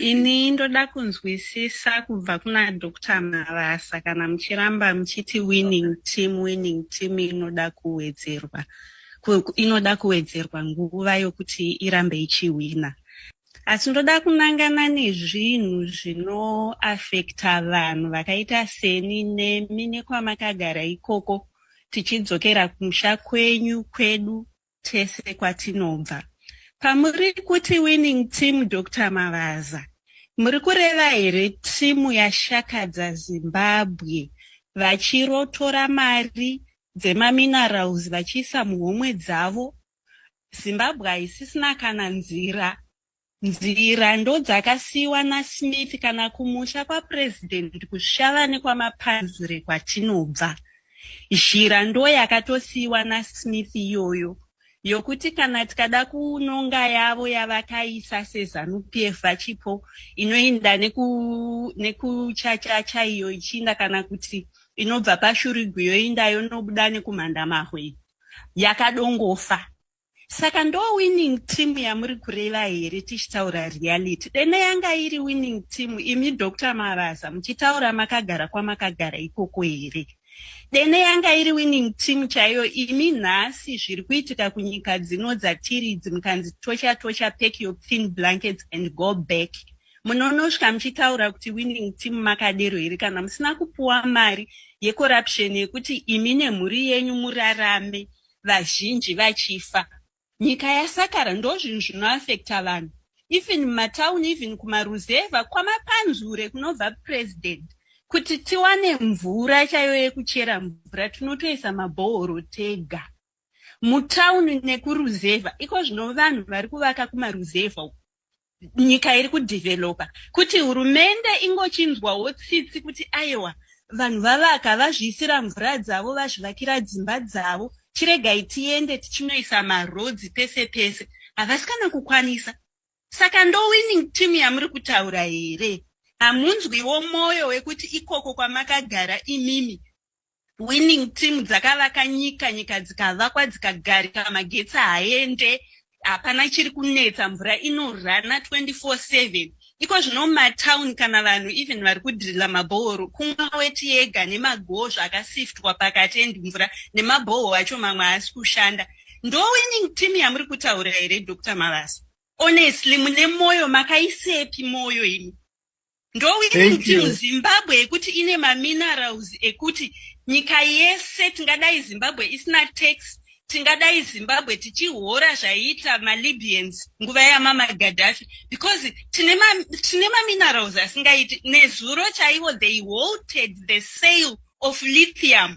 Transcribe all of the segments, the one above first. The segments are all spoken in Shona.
Ini ndoda kunzwisisa kubva kuna Dr. Marasa kana muchiramba muchiti winning team winning team inoda kuwedzerwa inoda kuwedzerwa nguva yokuti irambe ichihwina asi ndoda kunangana nezvinhu zvinoafekta vanhu vakaita seni nemi nekwamakagara ikoko tichidzokera kumusha kwenyu kwedu tese kwatinobva. Pamuri kuti winning team Dr Mavaza muri kureva here timu yashakadza Zimbabwe vachirotora mari dzemaminerals vachiisa muhomwe dzavo? Zimbabwe haisisina kana nzira Nzira ndodzakasiiwa naSmith kana kumusha kwaPresident kuSvava nekwamapanzure kwatinobva. Zhira ndoyakatosiiwa naSmith iyoyo yokuti kana tikada kunonga yavo yavakaisa seZanu-PF vachipo inoinda neku, nekuchachacha iyo ichiinda kana kuti inobva paShurigwi yoinda yonobuda nekumhandamahwe yakadongofa. saka ndo winning team yamuri kureva here tichitaura reality dene yanga iri winning team imi dr mavaza muchitaura makagara kwamakagara ikoko here dene yanga iri winning team chaiyo imi nhasi zviri kuitika kunyika dzino dzatiri idzi mukanzi tocha tocha pack your clean blankets and go back munonosvika muchitaura kuti winning team makadero here kana musina kupuwa mari yecorruption yekuti imi nemhuri yenyu murarame vazhinji vachifa nyika yasakara ndozvinhu zvinoafecta vanhu even mumatown even kumaruzevha kwamapanzure kunobva president kuti tiwane mvura chaiyo yekuchera mvura tinotoisa mabhohoro tega mutauni nekuruzevha iko zvino vanhu vari kuvaka kumaruzevha uku nyika iri kudhivhelopa kuti hurumende ingochinzwawo tsitsi kuti aiwa vanhu vavaka vazviisira mvura dzavo vazvivakira dzimba dzavo chiregai tiende tichinoisa marodzi pese pese havasi kana kukwanisa saka ndowinning team yamuri kutaura here hamunzwiwo mwoyo wekuti ikoko kwamakagara imimi winning team dzakavaka nyika nyika dzikavakwa dzikagarika magetsi haaende hapana chiri kunetsa mvura inorana 24/7 iko zvino mumatown kana vanhu even vari kudhirila mabhohoro kumwa weti yega nemagozva akasiftwa pakati endi mvura nemabhoho acho mamwe haasi kushanda ndo winning team yamuri kutaura here dr mavasa honestly mune mwoyo makaisepi mwoyo imi ndowirintil zimbabwe yekuti ine maminerals ekuti nyika yese tingadai zimbabwe isina tax tingadai zimbabwe tichihora zvaiita malibyans nguva yamama gadhafi because tine maminerals asingaiti nezuro chaivo they walted the sale of lithium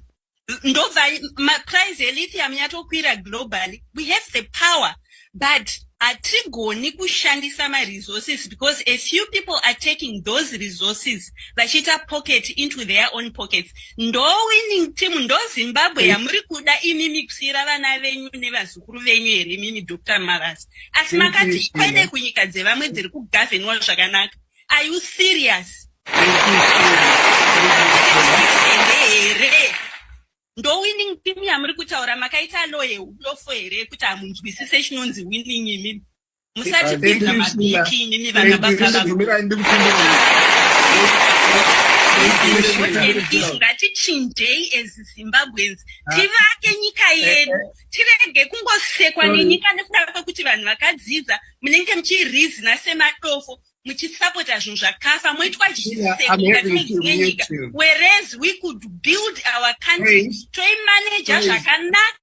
ndobva maprice elithium yatokwira globally we have the power but hatigoni kushandisa maresources because a few people are taking those resources vachiita pocket into their own pockets ndowinning team ndozimbabwe mm. yamuri kuda imi mikusiyira vana venyu nevazukuru venyu here mimi dr maras asi makati kwede kunyika dzevamwe dziri kugavenwa zvakanaka are you serious here ndowinning team yamuri kutaura makaita low yeulofo here yekuti hamunzwisise chinonzi winning imimi musatipinza mabiki imimi vana babaishu ngatichinjei as zimbabweans tivake nyika yedu tirege kungosekwa nenyika nekuda kwekuti vanhu vakadzidza munenge muchirizina semadofo muchisapota zvinhu zvakafa moitwa zvisekoatinenyika whereas we could build our country toimaneja zvakanaka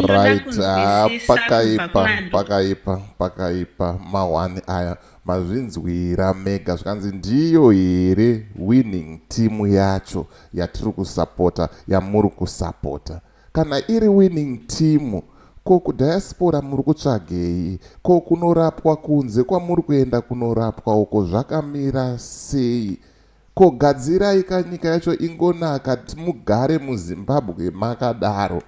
right ah, pakaipa pakaipa pakaipa mahwani aya Mazvinzwira mega zvikanzi ndiyo here winning team yacho yatiri kusapota yamuri kusapota. Kana iri winning team ko kudiaspora muri kutsvagei? Ko kunorapwa kunze kwamuri kuenda kunorapwa uko zvakamira sei? Ko gadzirai ka nyika yacho ingonaka kti mugare muzimbabwe makadaro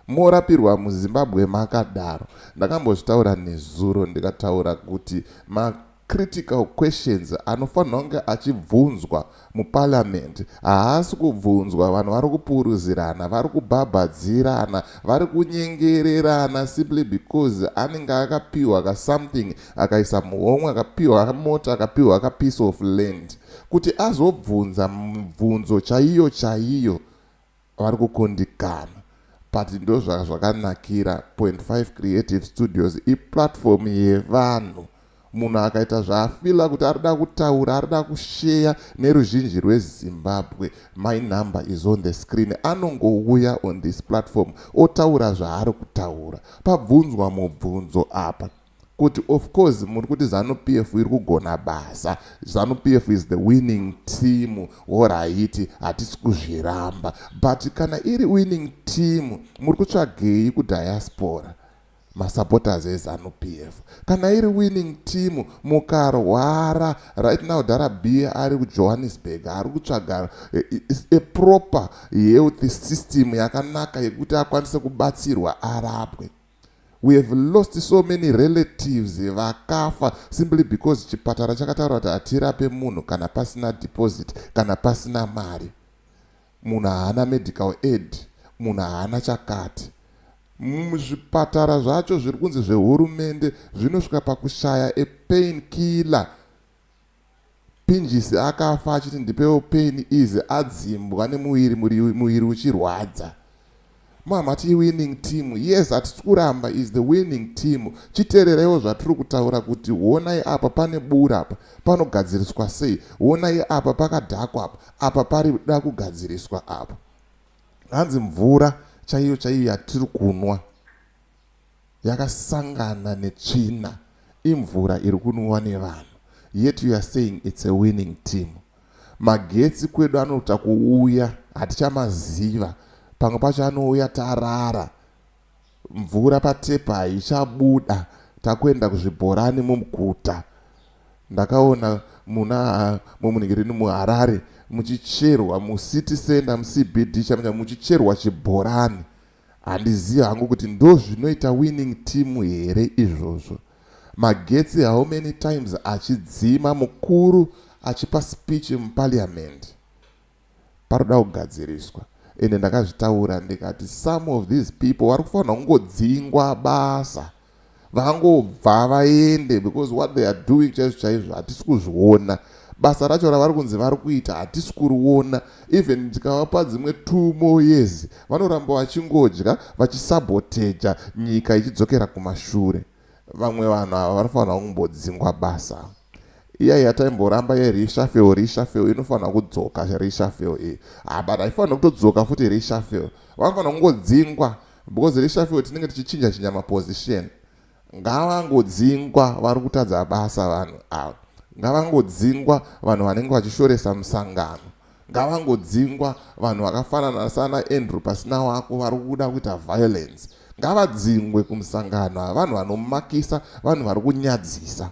morapirwa muzimbabwe makadaro ndakambozvitaura nezuro ndikataura kuti ma critical questions anofanirwa kunge achibvunzwa muparliament haasi kubvunzwa vanhu vari kupuruzirana vari kubhabhadzirana vari kunyengererana simply because anenge akapiwa kasomething akaisa muhomwe akapiwa mota akapiwa ka piece of land kuti azobvunza mibvunzo chaiyo chaiyo vari kukundikana but ndozvaka zvakanakira 25 creative studios iplatform yevanhu munhu akaita zvaafila kuti ari da kutaura ari da kusheya neruzhinji rwezimbabwe my number is on the screen anongouya on this platform otaura zvaari kutaura pabvunzwa mubvunzo apa Kuti of course muri kuti zanu PF iri kugona basa, zanu PF is the winning team, horaiti hatisi kuzviramba but kana iri winning team muri kutsvagei kudiaspora masupporters ezanu PF kana iri winning team mukarwara right now Darabia ari kuJohannesburg ari kutsvaga eh, eh, a proper health system yakanaka yekuti akwanise kubatsirwa arapwe We have lost so many relatives vakafa simply because chipatara chakataura kuti hatirape munhu kana pasina deposit kana pasina mari munhu haana medical aid munhu haana chakati muzvipatara zvacho zviri kunzi zvehurumende zvinosvika pakushaya epain killer Pinjisi akafa achiti ndipewo pain easy adzimbwa nemuviri muviri uchirwadza. Mhamha ti winning team yes hatisi kuramba is the winning team chiterereiwo zvatiri kutaura kuti honai apa pane bura apa panogadziriswa sei honai apa pakadhakwa apa apa pari da kugadziriswa apa hanzi mvura chaiyo chaiyo yatiri kunwa yakasangana netsvina imvura iri kunwiwa nevanhu yet you are saying it's a winning team magetsi kwedu anoita kuuya hatichamaziva pamwe pacho anouya tarara mvura patepa haichabuda takuenda kuzvibhorani mumuguta ndakaona muna mumuningirini muharare muchicherwa mucity center mucbd chamanya muchicherwa chibhorani Handizivi hangu kuti ndozvinoita winning team here izvozvo. Magetsi how many times achidzima mukuru achipa speech muparliament. Paroda kugadziriswa ende ndakazvitaura ndikati some of these people vari kufanirwa kungodzingwa basa. vangobva vaende because what they are doing chaizvo chaizvo hatisi kuzviona basa racho ravari kunzi vari kuita hatisi kuriona even ndikavapa dzimwe two more years vanoramba vachingodya vachisaboteja nyika ichidzokera kumashure vamwe vanhu ava vanofanira kumbodzingwa basa iya yataimboramba ye reshafel reshafel inofanira kudzoka reshafel iyi ah, but haifanira kutodzoka futi reshafel vanofanira kungodzingwa Because reshuffle tinenge tichichinja chinja maposition. Ngavangodzingwa vari kutadza basa vanhu ava. Ngavangodzingwa vanhu vanenge vachishoresa musangano. Ngavangodzingwa vanhu vakafanana sana Andrew pasina wako vari kuda kuita violence. Ngavadzingwe kumusangano ava vanhu vanomakisa vanhu vari kunyadzisa.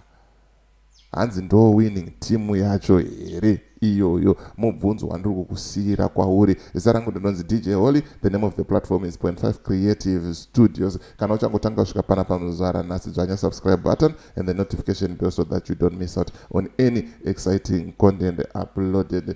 Hanzi ndoo winning team yacho here iyoyo? Mubvunzo wandiri kukusiira kwauri. Zita rangu ndinonzi DJ Holy. The name of the platform is Point 5 Creative Studios. Kana uchangotanga kusvika pana pamuzvara nhasi dzvanya subscribe button and the notification bell so that you don't miss out on any exciting content uploaded.